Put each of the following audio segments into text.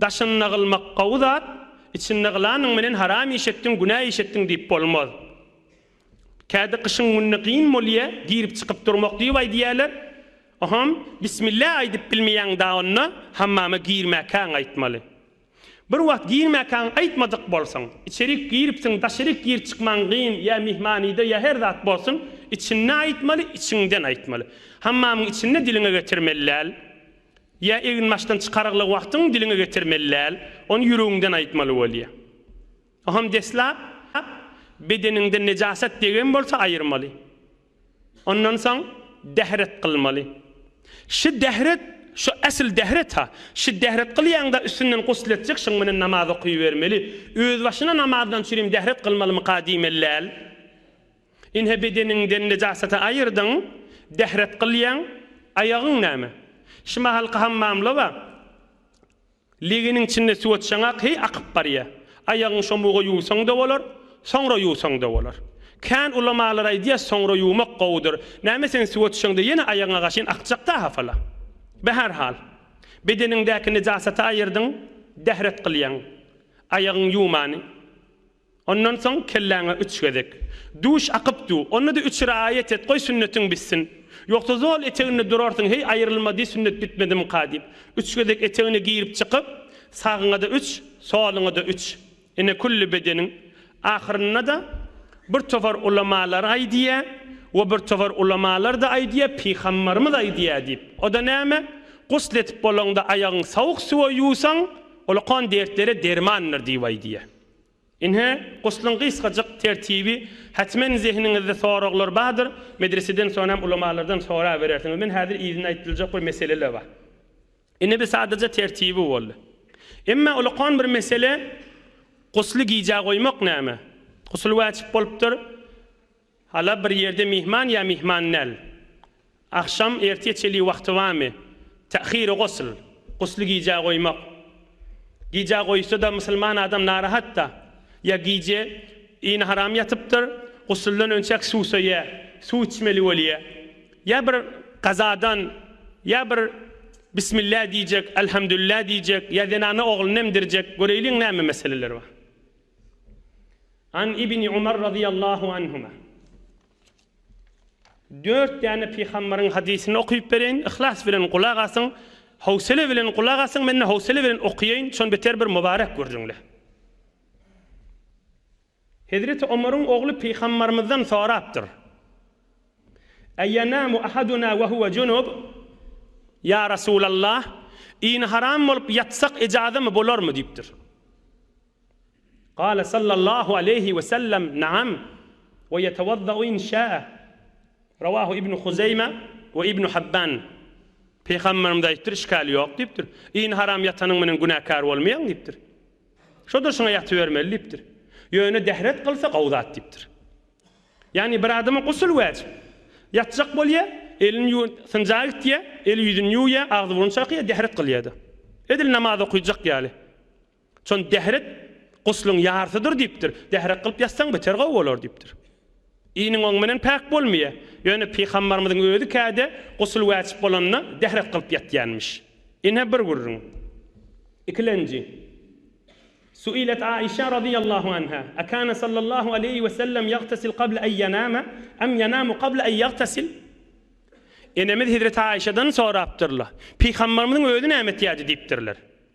Daşynda gylmak gowy zat, içinde gylanyň menen haram iş etdiň, günä iş etdiň diýip bolmaz. Kädi gyşyň gününe gyn bolýa, girip çykyp durmak diýip aýdýaler. Oham, bismillah aýdyp bilmeýäň da onda, hammama girmäkäň aýtmaly. Bir wagt girmäkäň aýtmadyk bolsaň, içerik giripsiň, daşaryk gir çykmaň gyn, ýa myhmanyda, ýa her zat bolsun, içinde aýtmaly, içiňden aýtmaly. Hammamyň içinde diliňe getirmeli däl. Ýa eginbaşdan çykarygly wagtyň diliňe getirmeli däl, ony ýüregiňden aýtmaly bolýar. Oňam deslap, bedeniňden nejasat degen bolsa aýyrmaly. Ondan soň dehret kylmaly. Şi dehret, şu esl dehret-ha. Şi dehret kylýaňda üstünden gusl etjek, şoň menen namaz okybermeli. Özbaşyna namazdan çürim dehret kylmalymyka diýmeli däl. Ine bedeniňden nejasaty aýyrdyň, dähret gylýaň, aýagyň näme? Şimahalky hammamlaba, legeniň içinde suwat şaňa heý akyp barýa. Aýagyň şomuga ýuwsaň-da bolar, soňra ýuwsaň-da bolar. Kän ulamalar aýdýa soňra ýuwmak gowudyr. Näme sen suwa düşeňde ýene aýagyňa gaşyn akjakda hafala. Be her hal. Bedeniňdäki nejasaty aýyrdyň, dähret gylýaň. Aýagyň ýuwmany. Ondan soň kelläňe üç gezek Duş akyp du, onda-da üç raýat et, goý sünnetiň bitsin. Ýogsa zol eteginde durarsyň, heý, aýrylma diý, sünnet bitmedimika diýip. Üç gezek etegine girip-çykyp, sagyňa-da üç, soluňa-da üç. Ine, külli bedeniň. Ahyrynda-da bir topar ulamalar aýdýar, we bir topar ulamalar-da aýdýar, pygambarymyz aýdýar diýip. O-da näme? Gusl edip bolaňda aýagyňy sowuk suwa ýuwsaň, ol okan dertlere dermandyr diýip aýdýar. Ine, guslyň gysgajyk tertibi, Hatmen zehiniňizde soraglar bardyr, medreseden soň hem ulamalardan soraberersiňiz. Men häzir yzyna aýdyljak bir meseleler bar. Ine bir sadaja tertibi boldy. Emma ulakan bir mesele, gusly gijä goýmak näme? Gusul wajyp bolupdyr. Hala bir ýerde myhman ýa myhman däl? Agşam ertir çeli wagty barmy? Ta'hir-u gusl, gusly gijä goýmak. Gijä goýsa-da musulman adam narahat-da. Ýa gije yny haram ýatypdyr, gusuldan önçäk suwsaýa, suw içmeli bolýa. Ýa bir gazadan, ýa bir bismillah diýjek, alhamdulillah diýjek, ýa zenana oglunu emdirjek, göreýliň näme meseleler bar. An Ibni Umar razyýallahu anhuma Dört däne pygambaryň hadysyny okyp bereýin, yhlas bilen gulak asyň, howsele bilen gulak asyň, men-de howsele bilen okaýaýyn, şony beter bir mubarek görjüňle. Hezreti Omaryň ogly pygambarymyzdan sorapdyr. Eýenamu ahaduna we huwe junub? Ýa Resulallah, ini haram bolup ýatsak ejazymy bolarmy? diýipdir. Gâle sallallahu aleýhi we sellem, Naam, we ýetewazzaû in şâe. Rawâhu Ibnu Huzeýme we Ibnu Habban. Pygamberimiz aýdypdyr, Işgäl ýok diýipdir. Iýin haram ýatanyň menen günäkär bolmaýaň diýipdir. Şo durşuna ýatybermeli diýipdir. Ýöne dehret kylsa gowy zat diýipdir. Ýagny bir adama gusl wajyp. Ýatjak bolýa, elini ýuw, synja gitýä, eli ýüzini ýuwýa, agzy burny çakýa, dehret kylýada. Edil namaz okyjak ýaly. Şony dährek gusluň ýarysydyr diýipdir. Dährek kylyp ýatsaň beter gowy bolar diýipdir. Iniň oň menen päk bolmaýa. Ýöne pygambarymyzyň özi käde gusl wäjip bolanda dährek kylyp ýatýanmyş. Ine bir gürrüň. Ikilenji. Suilet Aişa radyýallahu anha, Akana sallallahu aleýhi we sellem ýagtasil qabla en ýanama, em ýanamu qabla en ýagtasil? Enemiz hezreti Aişadan sorapdyrlar. Pygambarymyzyň özi näme etýärdi diýipdirler.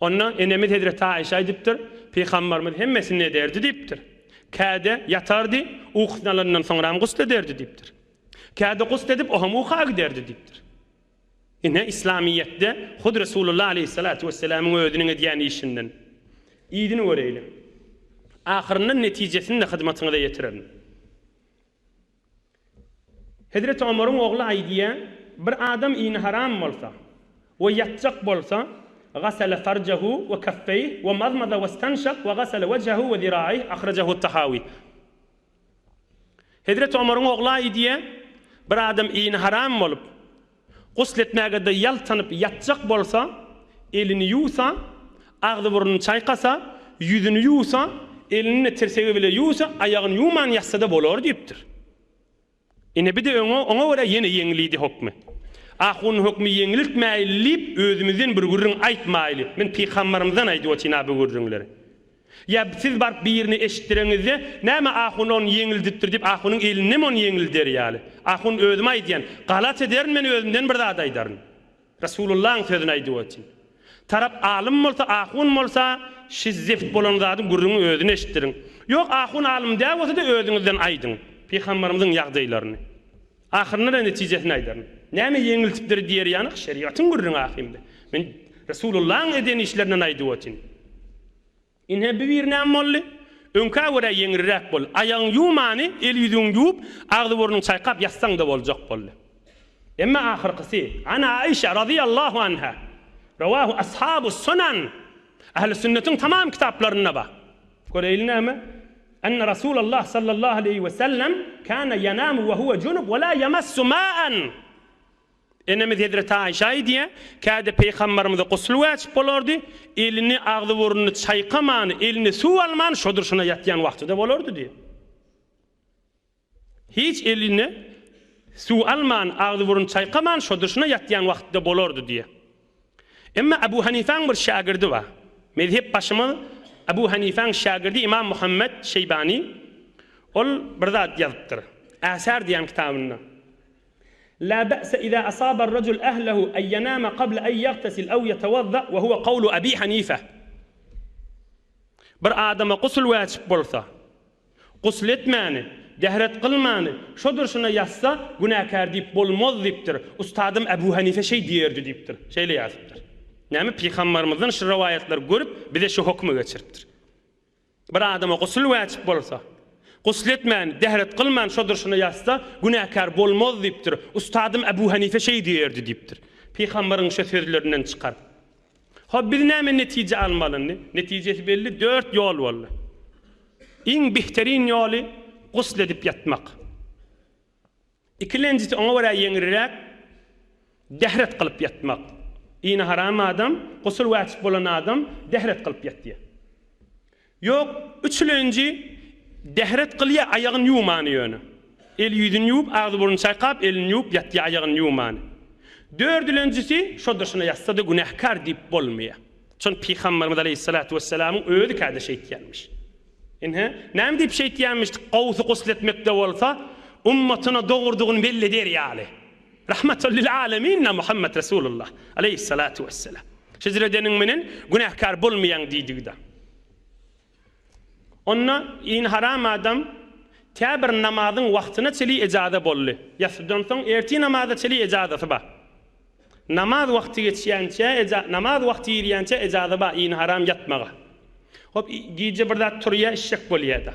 Onda enemiz hezreti Aişe aýdypdyr, Pygambarymyz hemmesini ederdi diýipdir. Käde ýatardy, ukusyny alandan soňram gusl ederdi diýipdir. Käde gusl edip ohem uka giderdi diýipdir. Ine islamyýetde hut Resulullah aleýhissalatu wesselamyň özüniň edýän işinden yzyny göreýliň. Ahyrynda netijesini-de hyzmatyňyza ýetirerin. Hezreti Omaryň ogly aýdýar, Bir adam ini haram bolsa we ýatjak bolsa, Gasala farjahu we kaffeyh we mazmaza westanşak we gasala wejhahu we ziraih, ahrajahu Tahawi. Hezreti Omaryň ogly aýdýar, Bir adam ini haram bolup, Gusl etmäge-de ýaltanyp ýatjak bolsa, elini ýuwsa, agzy-burnuny çaýkasa, ýüzüni ýuwsa, elini-de tirsegi bile ýuwsa, aýagyny ýuwman ýatsa-da bolar diýipdir. Ine, bi-de öňe, oňa görä ýene ýeňlidi hökmi. Ahun hökmi ýeňliltmäýli diýip, özümizden bir gürrüň aýtmaýly. Men pykambarymyzdan aýdyp otyryn-a bu gürrüňleri. Ýa siz baryp birine eşitdireňizde, Näme ahun ony ýeňildipdir diýip ahunyň elindemi ony ýeňilder ýaly? Ahun özüm aýdýan, galat ederin men özümden bir zat aýdaryn. Resulyllaň sözüni aýdyp otyn. Tarap alym bolsa ahun bolsa şiz zeft bolan zadyň gürrüňi özüni eşitdiriň. Ýok ahun alym dä bolsada özüňizden aýdyň pyhambarymyzyň ýagdaýlaryny. Ahyrynda-da netijesini aýdaryn. Näme ýeňiltipdir diýer ýanak, şerigatyň gürrüňi ahyrynda. Men Resulullahyň eden işlerinden aýdyp otyryn. Ine, bu bir näme boldy? Öňkä görä ýeňilräk boldy. Aýagyňy ýuwmany, el-ýüzüňi ýuwup, agzy-burnuňy çaýkap ýatsaň-da boljak boldy. Emma ahyrkysy, An Aişa razyýallahu anha, Rowahu ashabus-sunan, Ähli sünnetiň tamam kitaplarynda bar. Göreýli näme? Enne Rasulallah sallallahu aleýhi we sellem kana yanamu we huwa junup we la yamassu ma'an. Enemiz Hezreti Aişe aýdýar, Käde Peýgamberimize gusl wajyp bolardy, elini, agzy-burnuny çaýkaman, eline suw alman şo durşuna ýatýan wagtyda bolardy diýýär. Hiç eline suw alman, agzy-burun çaýkaman şo dyşyna ýatýan wagty-da bolardy diýýär. Emma Abu Hanifäň bir şägirdi bar. Mezhep başymyz Abu Hanifäň şägirdi Imam Muhammet Şeýbany. Ol bir zat ýazypdyr. Äsar diýýän kitabynda. La be'se iza asaba ar-rajul ahlahu en ýanama qabla en ýagtasil aw ýatawazza we huwa gawlu Abi Hanife. Bir adama gusl wajyp bolsa, Gusl etmäni, dehret kylmany şo durşuna ýatsa günäkär diýip bolmaz diýipdir. Ustadym Äbu Hanife şeý diýerdi diýipdir. Şeýle ýazypdyr. Näme pygambarymyzdan şu rowaýatlary görüp bize şu hokmy geçiripdir. Bir adama gusl wajyp bolsa, gusl etmäni, dehret kylmany şo durşuna ýatsa günäkär bolmaz diýipdir. Ustadym Äbu Hanife şeý diýerdi diýipdir. Pygambaryň şo sözlerinden çykar. Hop biz näme netije almalyndy? Netijesi belli dört ýol boldy. Iň bihterin ýoly gusl edip ýatmak. Ikilenjisi oňa görä ýeňilräk dehret kylyp ýatmak. Ini haram adam, gusl wajyp bolan adam dehret kylyp ýatýar. Ýok, üçülenji dehret gylýa aýagyn ýuwmany ýöne. El ýüzün ýuwup agzy burny çaýkap elini ýuwup ýatýa aýagyn ýuwmany. Dördülenjisi şo dyşyna ýatsada günähkar diýip bolmaýa. Şony pygamberimiz aleýhissalatu wessalamyň özi käde şeýtýänmiş. Ynha, näme diýip şeýtýänmiş gowsy gusl etmekde bolsa ummatyna dogurdygyny belli eder ýaly. Rahmatal lil aleminna Muhammet Resulullah, aleýhissalatu wesselam, Hijr edeniň menen günäkär bolmaýaň diýdigi-da. Onda in haram adam tä bir namazyň wagtyna çeli ejaza boldy. Ýatsydan soň ertir namaza çeli ejazasy bar. Namaz wagty geçýänçä eja, namaz wagty girýänçä ejaza bar in haram ýatmaga. Hop, gije bir zat turýar, içjek bolýar-da.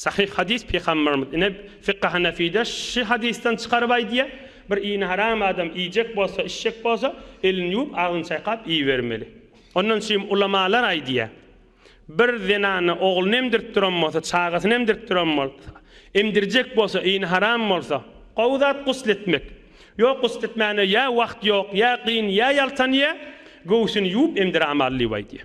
Sahyh hadys Pygamberimiz ine Fykh-y Hanefide şy hadysdan çykaryp aýdýa, Bir ini haram adam iýjek bolsa, içjek bolsa, elini ýuwup, agzyny çaýkap iýibermeli. Ondan çyym ulamalar aýdýa, Bir zenana ogluny emdirip duran bolsa, çagasyny emdirip duran bolsa, emdirjek bolsa, ini haram bolsa, gowy zat gusl etmek. Ýok gusl etmäne ýa wagt ýok, ýa gyn, ýa ýaltanýa, göwsüni ýuwup emdiramaly diýip aýdýa.